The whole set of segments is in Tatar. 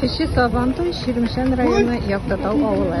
Кече Сабантуй, Чирмешән районы, Яктатау авылы.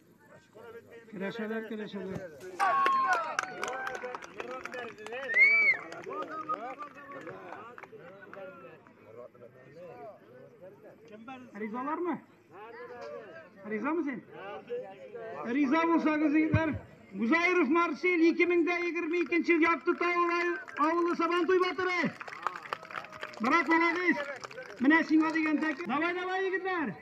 Керәшәләр, керәшәләр. Ризалар мы? Риза мы сен? Риза булсагыз, егетләр. Гузаиров Марсель 2022 ел якты тавылай авылы сабан туй батыры. Брат, молодец. Менә сиңа дигән тәк. Давай, давай, егетләр.